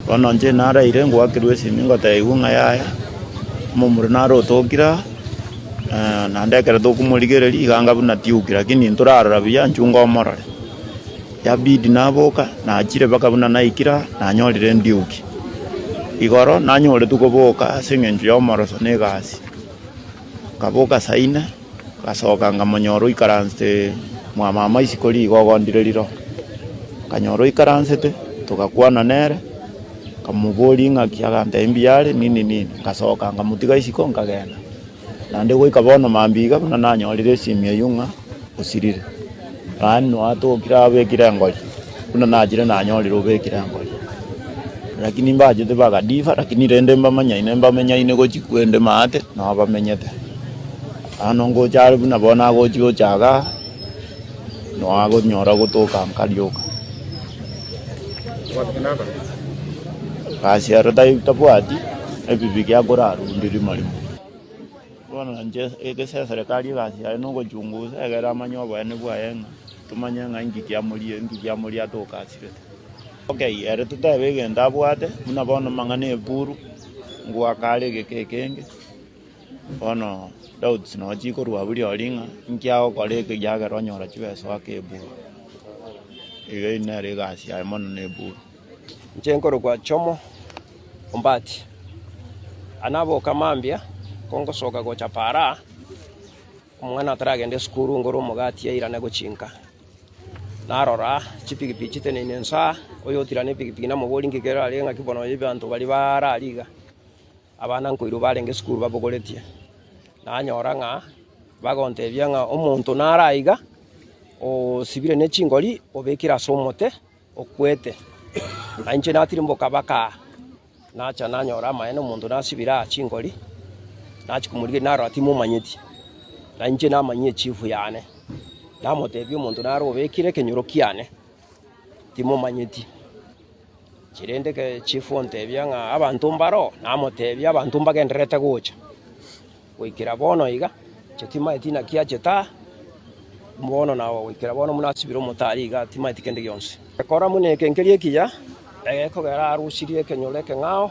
Bono inche naraire ngoakerwe esimi ngoteebigwe ng'a yaya, omomura nare otokire aa, eh, naende ekero tokomorigereria iga anga buna tiuki, lakini ntorarora buya nchunga omorore. Yabidi naboka nachire mpaka buna naikire aa, nanyorire ndiuki. Igoro nanyoretu koboka ase eng'encho y'omoroso na egasi. Nkaboka saa ine, Ngasoka nkamonyora oikaranste mwamama isiko rigo ogondire riro. Nkanyora oikaransete togakwana nere nkamoboria ing'aki agantebia mbuya are nini nini ngasoka nkamotiga isiko nkagenda. Naende goika bono mambia iga buna nanyorire esimi eyio ng'a osirire. Gani noatokire abekire engori, buna nachire nanyorire obekire engori. Rakini mbachete bagadiva, rakini rende mbamanyaine mbamenyaine gochi kwende maate nabamenyete. Bono ngocha are buna bono agochi gocha iga, noagonyora gotoka nkarioka. Gasiaro tai- tabwati ebibe giakorarwa onde rimo rimo. Bono inche egeseserekari egasi yaye nogochungusa egere amanye oboyene bwaye ng'a tomanye ng'a inki kiamoria inki kiamoria atokasirete. Ok ere totebe egento abwate buna bono amang'ana eburu ngoaka are egeka ekenge bono doubts nonya chikorwa buri ori ng'a inki agokora eke ekiagera onyora chibesa oake eburu. Iga eyio nere egasi yaye mono na eburu. Inche nkorokwa Jomo Ombati. Aya naboka mambia kongosoka gocha paraa, omwana ataragenda esukuru ngore omogati yairane gochinka. Narora chipikipiki chiteneine inse aa, oyotirane epikipiki namobori ng'iki kerarenge ng'aki bono oyo ebanto baria bare aria iga, abana nkoirwa barenge esukuru babogoretie. Nanyora ng'a bagontebia ng'a omonto naro aiga osibire ne chingori obekire ase omote. okwete, na inche natirimboka baka aa, nacha nanyora amaene, omonto nasibire aa chingori, nachia komorigereria narora timomanyeti, na inche namanyia echifu yane, namotebia omonto nare obekire ekenyoro kiane, timomanyeti. Chirende ekechifu ontebia ng'a abanto mbaro? Namotebia abanto mbagendererete gocha. Goikera bono iga, inche timaeti inaki achete aa, bono nao goikera bono buna asibire omotari igaa, timaeti kende gionsi. Kora buna eke nkeria ekiya, ekogera arusirie ekenyoro ekeng'ao.